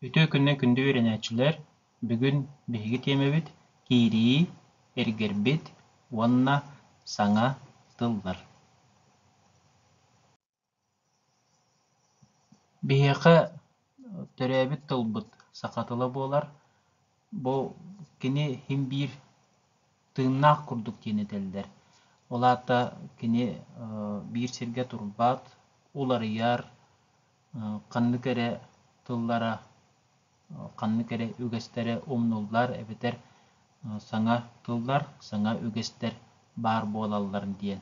Үтүө күннэн күндү үөрэнээччилэр! Бүгүн биһиги тиэмэбит киирии, эргэрбит уонна саҥа тыллар. Биһиэхэ төрөөбүт тылбыт саха тыла буолар. Бу кини хим биир тыыннаах курдук диэн этэллэр. Ол аата кини биир сиргэ турбат, уларыйар, ханнык эрэ тыллара, ханнык эрэ үгэстэрэ умнуллар эбэтэр саҥа тыллар, саҥа үгэстэр баар буолалларын диэн.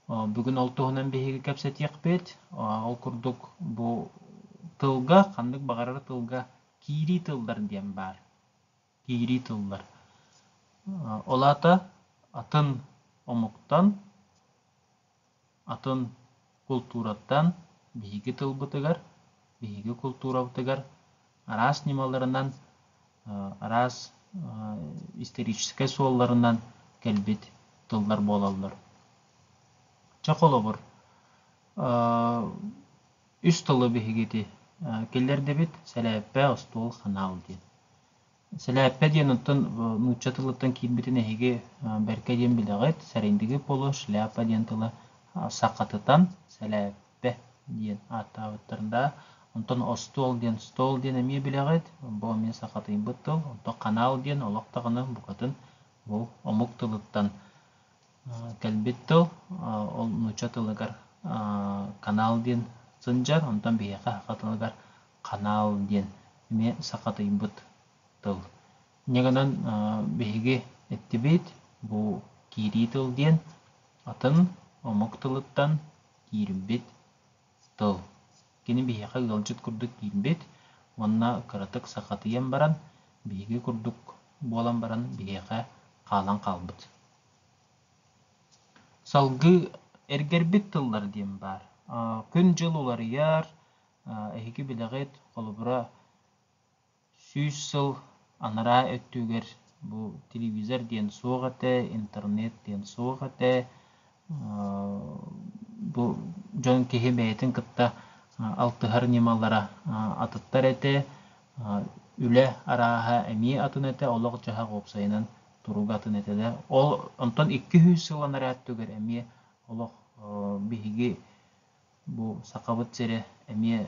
Бүгүн ол туһунан биһиги кэпсэтиэхпит. Ол курдук бу тылга, ханнык баҕарар тылга Киирии тыллар диэн баар. Киирии тыллар. Ол аата атын омуктан, атын култуураттан биһиги тылбытыгар, биһиги култуурабытыгар араас ньымаларынан, араас историческай суолларынан кэлбит тыллар буолаллар. Чэ, холобур, үс тылы биһигити киллэрдибит сэлээппэ остуол ханаал диэн сэлээппэ диэн оттон нуучча тылыттан киирбитин эһиги бэркэ диэн билэҕит сэрэйдиги поло шляпа диэн тылы сахатытан сэлээппэ диэн ааттаабыттарын да онтон остуол диэн стол диэн эмиэ билэҕит бу эмиэ сахатыйбыт тыл онтон ханаал диэн олох даҕаны букатын бу омук тылыттан Кэлбит тыл ол нуучча тылыгар канал диэн сылдьар, онтон биһиэхэ саха тылыгар канал диэн эмиэ саха тыйбыт тыл. Инньэ гынан биһиги эттибит бу киирии тыл диэн атын омук тылыттан киирбит Тыл. Кини биһиэхэ ыалдьыт курдук киирбит уонна кыратык сахатыйан баран, биһиги курдук буолан баран биһиэхэ хаалан хаалбыт. Салгыы эргэрбит тыллар диэн баар. Күн-дьыл уларыйар, эһиги билэҕит, холобура, Сүүс сыл анараа өттүгэр бу телевизор диэн суох этэ, интернет диэн суох этэ. Бу дьон киһи бэйэтин кытта алтыһар ньымалара атыттар этэ. Үлэ арааһа эмиэ атын этэ, олох-дьаһах уопсайынан туруга атын этэ да. Ол онтон икки сүүс сыл анараа өттүгэр эмиэ олох биһиги Бу Сахабыт сирэ эмиэ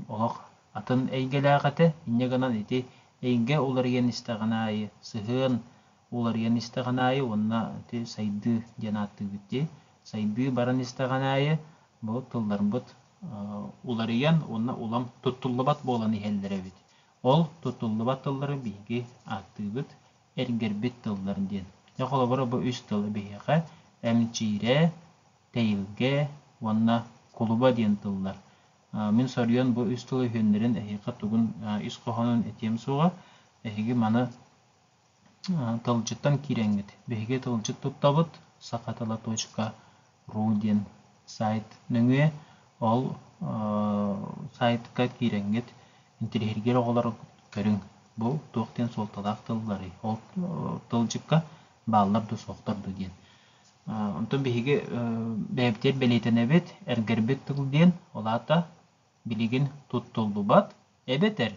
олох атын эйгэлээх этэ. Инньэ гынан ити эйгэ уларыйан истэҕин аайы, сыһыан уларыйан истэҕин аайы уонна ити сайдыы диэн ааттыыбыт дии. Сайдыы баран истэҕин аайы бу тылларбыт уларыйан уонна улам туттуллубат буолан иһэллэр эбит. Ол туттуллубат тыллары биһиги ааттыыбыт эргэрбит тыллар диэн. Дьэ, холобура, бу үс тылы биһиэхэ эмчиирэ, Тэйилгэ уонна кулуба диэн тыллар. Мин соруйан бу үс тылы үһүөннэрин эһиэхэ тугун ис хоһоонун этиэм суоҕа. Эһиги маны тылдьыттан киирэҥҥит. Биһиги тылдьыт туттабыт саха ру диэн сайт нөҥүө. Ол сайтка киирэҥҥит, интириэһиргиир оҕолор көрүҥ бу туох диэн суолталаах тылларый. Ол тылдьыкка бааллар да суохтар дуу диэн. Онтон биһиги бэйэбитигэр бэлиэтэнэбит, эргэрбит тыл диэн, ол аата билигин туттуллубат эбэтэр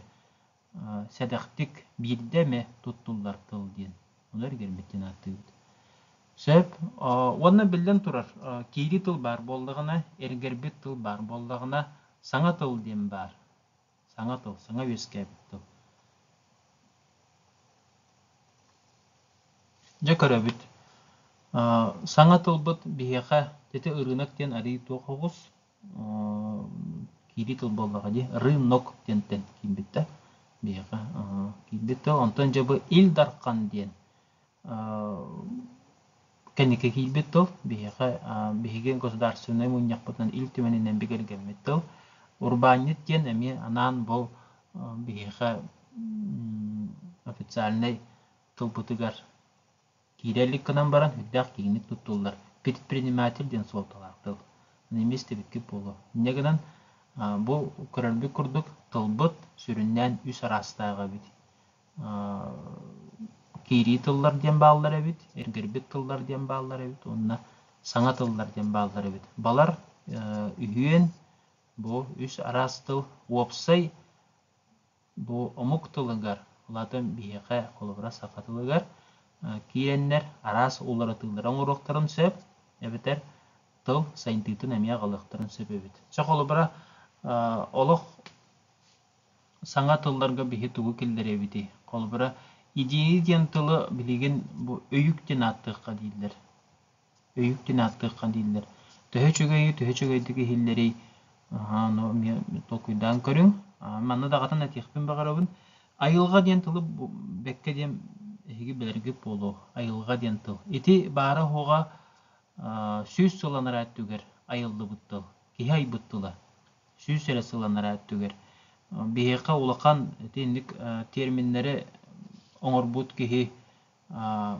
сэдэхтик биирдэ эмэ туттуллар тыл диэн. Ону эргэрбит диэн ааттыыбыт. Сөп. Уонна биллэн турар, киирии тыл баар буоллаҕына, эргэрбит тыл баар буоллаҕына, саҥа тыл диэн баар. саҥа тыл саҥа үөскээбит тыл дьэ көрөбүт саҥа тылбыт биһиэхэ ити ырыынак диэн арыый туох оҕус киирии тыл буоллаҕа дии рынок диэнтэн киирбит да биһиэхэ киирбит тыл онтон дьэ бу ил дархан диэн кэнники киирбит тыл биһиэхэ биһиги государственнай мунньахпытынан Ил Түмэнинэн бигэргэммит тыл урбаанньыт диэн эмиэ анаан бу биһиэхэ официальнай тылбытыгар киирэ илик гынан баран үрдээх киинник туттуллар предприниматель диэн суолталаах тыл эмиэ истибиккит буолуо инньэ гынан бу көрөрбүт курдук тылбыт сүрүннээн үс араастаах эбит киирии тыллар диэн бааллар эбит, эргэрбит тыллар диэн бааллар эбит уонна саҥа тыллар диэн бааллар эбит. Балар, үһүөн, бу үс араас тыл. Уопсай бу омук тылыгар, улаатан биһиэхэ, холобура, саха тылыгар киирэннэр араас уларытыылары оҥоруохтарын сөп, эбэтэр тыл сайынтыытын эмиэ аҕалыахтарын сөп эбит. Чэ, холобура, олох саҥа тылларга биһи тугу киллэриэбитий холобура идеи диэн тылы билигин бу өйүк диэн ааттыахха дииллэр өйүк диэн ааттыахха дииллэр төһө үчүгэйи төһө үчүгэйдик иһиллэрий ну эмиэ толкуйдаан көрүҥ манна даҕатан этиэхпин баҕарабын айылҕа диэн тылы бэккэ диэн эһиги билэргит буолуо айылҕа диэн тыл ити баара оһоҕа сүүс сылланара өттүгэр айыллыбыт тыл киһи айбыт тыла сүүс эрэ сылланара өттүгэр. Биһиэхэ улахан итинник терминнэри оҥорбут киһи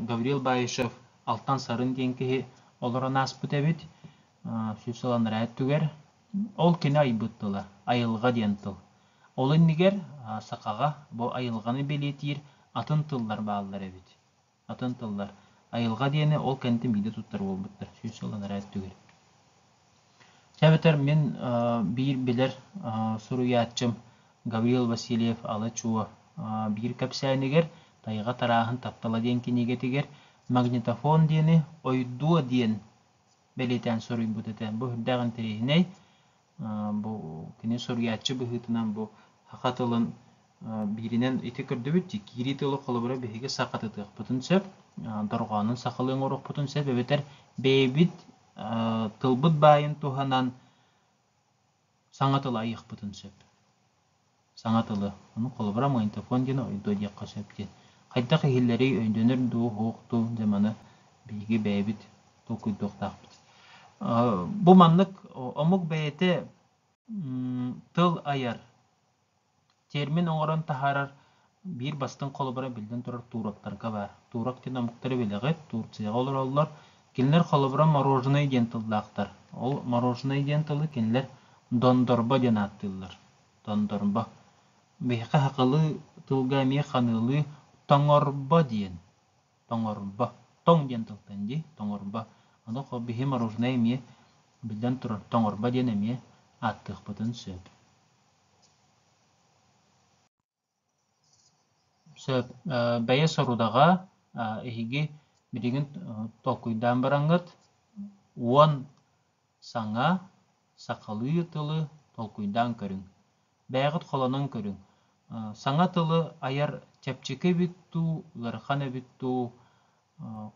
Гавриил Баишев Алтан Сарын диэн киһи олорон ааспыт эбит сүүс сылланара өттүгэр. Ол кини айбыт тыла, айылҕа диэн тыл. Ол иннигэр сахаҕа бу айылҕаны бэлиэтиир атын тыллар бааллар эбит. атын тыллар айылҕа диэни ол кэннитэ биирдэ туттар буолбуттар сүүс сыл анараа өттүгэр чэ эбэтэр мин биир билэр суруйааччым гаврил васильев ала-чуо биир кэпсээнигэр тайҕа тарааһын таптала диэн кинигэтигэр магнитофон диэни ойдуо диэн бэлиэтээн суруйбут этэ бу үрдээх интэриэһинэй Бу кини суруйааччы быһыытынан бу саха тылын бииринэн ити көрдөбүт дии киирии тылы холобура биһиги сахатытыахпытын сөп дорҕоонун сахалыы оҥоруохпутун сөп эбэтэр бэйэбит тылбыт баайын туһанан саҥа тылы айыахпытын сөп Саҥа тылы, ону холобура магнитофон диэн ойдуо диэххэ сөп диэн. Хайдах иһиллэрий, өйдөнөр дуу, уһуох дуу, дьэ маны биһиги бэйэбит толкуйдуохтаахпыт. Бу маннык омук бэйэтэ тыл айар, термин оҥорон таһаарар биир бастыҥ холобура биллэн турар туроктарга баар. Турок диэн омуктар бэлэҕи Турцияҕа олороллор. Кинилэр холобура мороженое диэн тыллаахтар. Ол мороженое диэн тылы кинилэр дондорбо диэн ааттыыллар. Дондорбо. Биһиэхэ хакылыы тылга эмиэ ханыылыы тоҥорбо диэн. Тоҥорбо. Тоҥ диэн тылтан дии. Тоҥорбо. Аны биһи мороженое эмиэ биллэн турар тоҥорбо диэн эмиэ ааттыахпытын сөп. Сөп. Бэйэ сорудаҕа эһиги билигин толкуйдаан бараҥҥыт уон саҥа сахалыы тылы толкуйдаан көрүҥ. Бэйэҕит холонон көрүҥ. Саҥа тылы айар чэпчэки эбит дуу, ыарахан эбит дуу,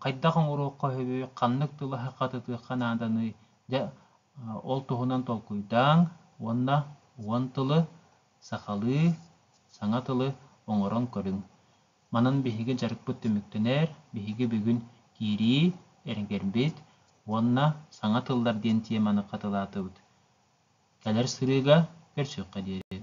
хайдах оҥоруохха сөбүй, ханнык тылы хаххатытыахха нааданый? Дьэ, ол туһунан толкуйдааҥ уонна уон тылы Сахалыы саҥа тылы оҥорон көрүҥ. Манан биһиги дьарыкпыт түмүктэнэр, биһиги бүгүн киирии, эргэрбит уонна саҥа тыллар диэн теманы хатылаатыбыт. Кэлэр сырыыга көрсүөххэ диэри.